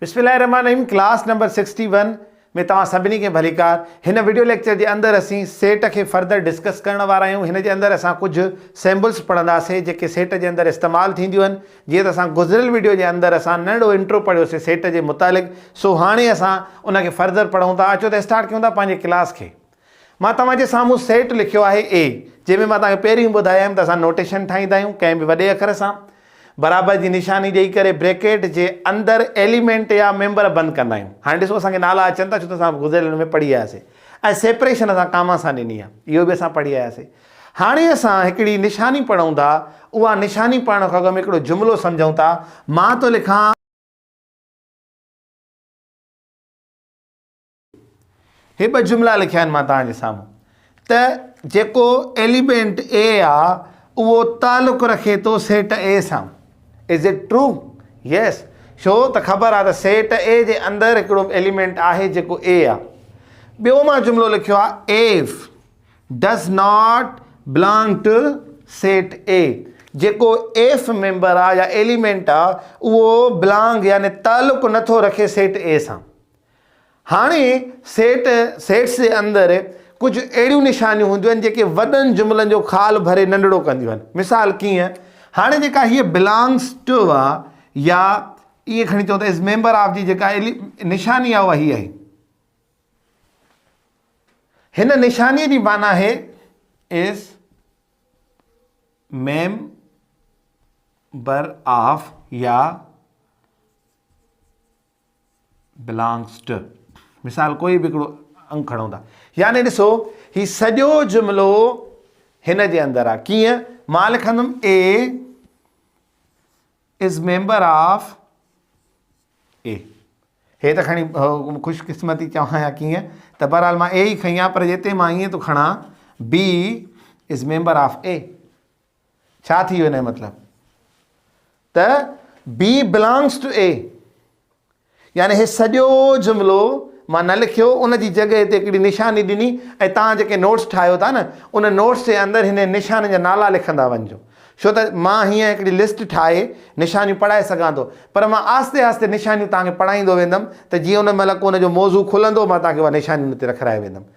بسم الله الرحمٰن الرحيم ڪلاس نمبر سڪسٽي ون ۾ توهان سڀني کي ڀليڪار هن وڊيو ليڪچر جي اندر اسين سيٽ کي فردر ڊسڪس ڪرڻ وارا آهيون هن جي اندر اسان ڪجهه سيمبلس پڙهنداسي جيڪي سيٽ جي اندر استعمال ٿينديون آهن جيئن ته اسان گذريل وڊيو جي اندر اسان ننڍڙو انٽرو پڙهيو سي سيٽ جي متعلق سو هاڻي اسان ان کي فردر پڙهون ٿا اچو ته اسٽارٽ ڪيون ٿا پنهنجي ڪلاس کي مان توهان جي سامهون سيٽ لکيو آهي اي، جنهن ۾ مان توهان کي پهريون ئي ٻڌايم ته اسان نوٽيشن ٺاهيندا آهيون ڪنهن به وڏي اکر سان برابر جي نشاني ڏئي ڪري بريڪيٽ جي اندر ايليمينٽ يا ميمبر بند ڪندا آهيون. هاڻي ڏسو اسان کي نالا اچن ٿا ڇو ته اسان گذريل ان ۾ پڙهي آياسي ۽ سيپريشن اسان ڪاما سان ڏني آهي اهو به اسان پڙهي آياسي. هاڻي اسان هڪڙي نشاني پڙهون ٿا اها نشاني پڙهڻ کان اڳ ۾ هڪڙو جملو سمجهون ٿا مان ٿو لکان، هي ٻه جملا لکيا آهن مان توهان جي سامهون ته جيڪو ايليمينٽ اي آ اهو تعلق رکي ٿو سيٽ اي سان از اٽ ٽرو يس ڇو ته خبر آ ته سيٽ اي جي اندر هڪڙو ايليمينٽ آهي جيڪو اي آ ٻيو مان جملو لکيو آ F does not belong to set A جيڪو ايف ميمبر آ يا ايليمينٽ آ اهو بلانگ يعني تعلق نٿو رکي سيٽ اي سان هاڻي سيٽ، Sets، جي اندر ڪجهه اهڙيون نشانيون هونديون آهن جيڪي وڏن جملن جو خال ڀري ننڍڙو ڪنديون آهن. مثال ڪيئن؟ هاڻي جيڪا هيء Belongs to آ يا ائين کڻي چئون ته Is Member of جي جيڪا نشاني آهي اها هيء آهي. هن نشانيء جي معنيٰ آهي Is Member of يا belongs to مثال ڪوئي به هڪڙو انگ کڻو ٿا يعني ڏسو هي سڄو جملو هن جي اندر آ ڪيئن مان لکندم A is member of A هي ته کڻي خوش قسمتي چوان يا ڪيئن ته بهرحال مان اي ئي کڻي آ پر جتي مان ائين ٿو کڻان B is member of A ڇا ٿي ويو ان جو مطلب ته بي بلانگس ٽو اي يعني هي سڄو جملو مان نه لکيو ان جي جڳهه تي هڪڙي نشاني ڏني ۽ توهان جيڪي نوٽس ٺاهيو ٿا نه ان نوٽس جي اندر هن نشانين جا نالا لکندا وڃجو ڇو ته مان هيئن هڪڙي لسٽ ٺاهي نشانيون پڙهائي سگهان ٿو پر مان آهستي آهستي نشانيون توهان کي پڙهائيندو ويندم ته جيئن ان مهل ڪو ان جو موضوع کلندو مان توهان کي اها نشانيون هتي رکرائي ويندم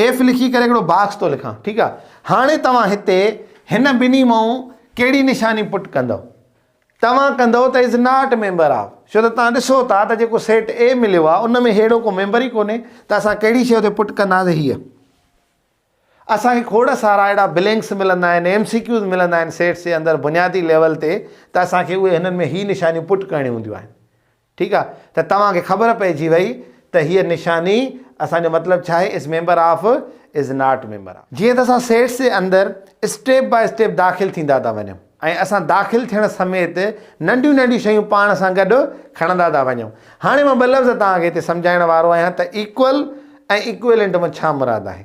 ايف لکي ڪري هڪڙو باڪس ٿو لکان ٺيڪ آ هاڻي توهان هتي هن ٻنهي مون ڪهڙي نشاني پٽ ڪندو توهان ڪندو ته از ناٽ ميمبر آف ڇو ته توهان ڏسو ٿا ته جيڪو سيٽ اي مليو آ ان ۾ هيڙو ڪو ميمبر ئي ڪونهي ته اسان ڪهڙي شيء تي پٽ ڪنداسي هيء اسان کي کوڙ سارا اهڙا بلينڪس ملندا آهن ايم سي ڪيوز ملندا آهن سيٽس جي اندر بنيادي ليول تي ته اسان کي اهي هنن ۾ هي نشانيون پٽ ڪرڻيون هونديون آهن ٺيڪ آ ته توهان کي خبر پئجي وئي ته هيء نشاني اسان جو مطلب ڇا آهي Is Member Of Is Not Member Of جيئن ته اسان سيٽس جي اندر اسٽيپ باء اسٽيپ داخل ٿيندا ٿا وڃون ۽ اسان داخل ٿيڻ سميت ننڍيون ننڍيون شيون پاڻ سان گڏ کڻندا ٿا وڃون هاڻي مان ٻه لفظ توهان کي هتي سمجهائڻ وارو آهيان ته Equal ۽ Equivalent مان ڇا مراد آهي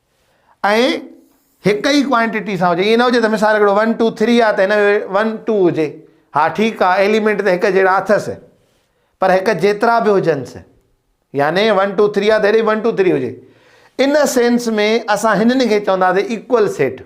۽ هڪ ئي ڪوانٽيٽي سان هجي ائين نه هجي ته مثال هڪڙو ون ٽو ٿري آهي ته هن جو ون ٽو هجي ها ٺيڪ آهي ايليمينٽ ته هڪ جهڙا اٿس پر هڪ جيترا به هجنس يعني ون ٽو ٿري آهي ته هيڏي ون ٽو ٿري هجي ان سينس ۾ اسان هنن کي چونداسين ايڪول سيٽ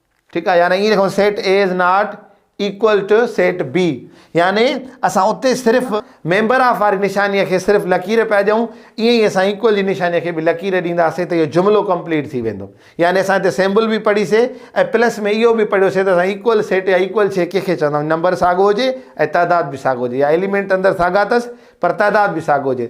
ٺيڪ آهي يعني ائين لکون set A is not equal to set B يعني اسان اتي صرف ميمبر آف واري نشاني کي صرف لڪير پيا ڏيون ائين ئي اسان ايڪول جي نشاني کي به لڪير ڏينداسين ته اهو جملو ڪمپليٽ ٿي ويندو يعني اسان هتي سيمبل به پڙهي سي ۽ پلس ۾ اهو به پڙهيو سي ته اسان ايڪول سيٽ يا ايڪول شي ڪنهن کي چوندا آهيون نمبر ساڳو هجي ۽ تعداد به ساڳو هجي يا ايليمينٽ اندر ساڳا اٿس پر تعداد به ساڳو هجي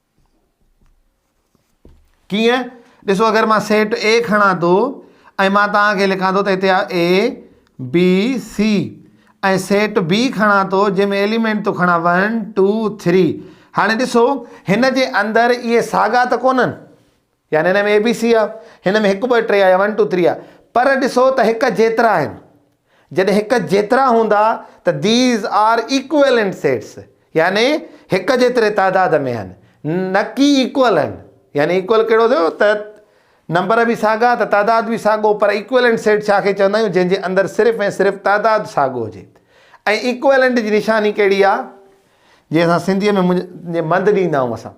ڪيئن ڏسو اگر مان سيٽ اي کڻان ٿو ۽ مان توهان کي لکان ٿو ته هتي A B C ۽ set B کڻان ٿو جنهن ۾ ايليمنٽ ٿو کڻان ون ٽو ٿري هاڻي ڏسو هن جي اندر اهي ساڳا ته ڪونهن يعني هن ۾ اي بي سي آ هن ۾ هڪ ٻه ٽي آ يا ون ٽو ٿري آ پر ڏسو ته هڪ جيترا آهن جڏهن هڪ جيترا هوندا ته ديز آر ايڪويلنٽ سيٽس يعني هڪ جيتري تعداد ۾ آهن نه ڪي ايڪول آهن يعني ايڪول ڪهڙو ٿيو ته نمبر به ساڳا ته تعداد به ساڳو پر ايڪويلنٽ سيٽ ڇا کي چوندا آهيون جنهن جي اندر صرف ۽ صرف تعداد ساڳو هجي ۽ ايڪويلنٽ جي نشاني ڪهڙي آ جنهن سان سنڌي ۾ مند ڏيندا آهيون اسان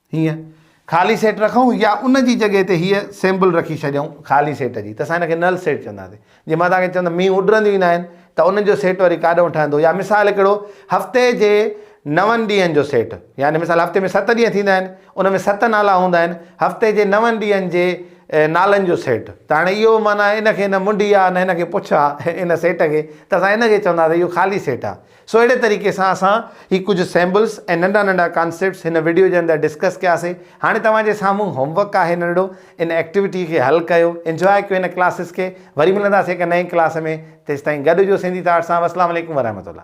هيء خالي سيٽ رکون يا ان جي جڳهه تي هيء سيمبل رکي ڇڏيون خالي سيٽ جي ته اسان هن کي نل سيٽ چونداسين. جي مان توهان کي چوان ته مينهن اڏرنديون ئي ناهن ته انهن جو سيٽ وري ڪاڏئون ٺهندو يا مثال هڪڙو هفتي جي نون ڏينهن جو سيٽ يعني مثال هفتي ۾ ست ڏينهن ٿيندا آهن ان ۾ ست نالا هوندا آهن هفتي جي نون ڏينهن جي نالن جو سيٽ ته هاڻي اهو معنيٰ ان کي نه منڊي آهي نه ان کي پڇ آهي ان سيٽ کي ته اسان ان کي چونداسين اهو خالي سيٽ آهي. سو اهڙي طريقي سان اسان هي ڪجهه سيمبلز ۽ ننڍا ننڍا ڪانسيپٽس هن وڊيو جي اندر ڊسڪس ڪيا سي هاڻي توهان جي سامهون هوم ورڪ آهي ننڍڙو ان ايڪٽيوٽي کي حل ڪيو انجواء ڪيو هن ڪلاسز کي وري ملنداسي هڪ نئين ڪلاس ۾ تيستائين گڏ هجو سنڌي ٿاٽ سان وسلام عليڪم ورحمة الله.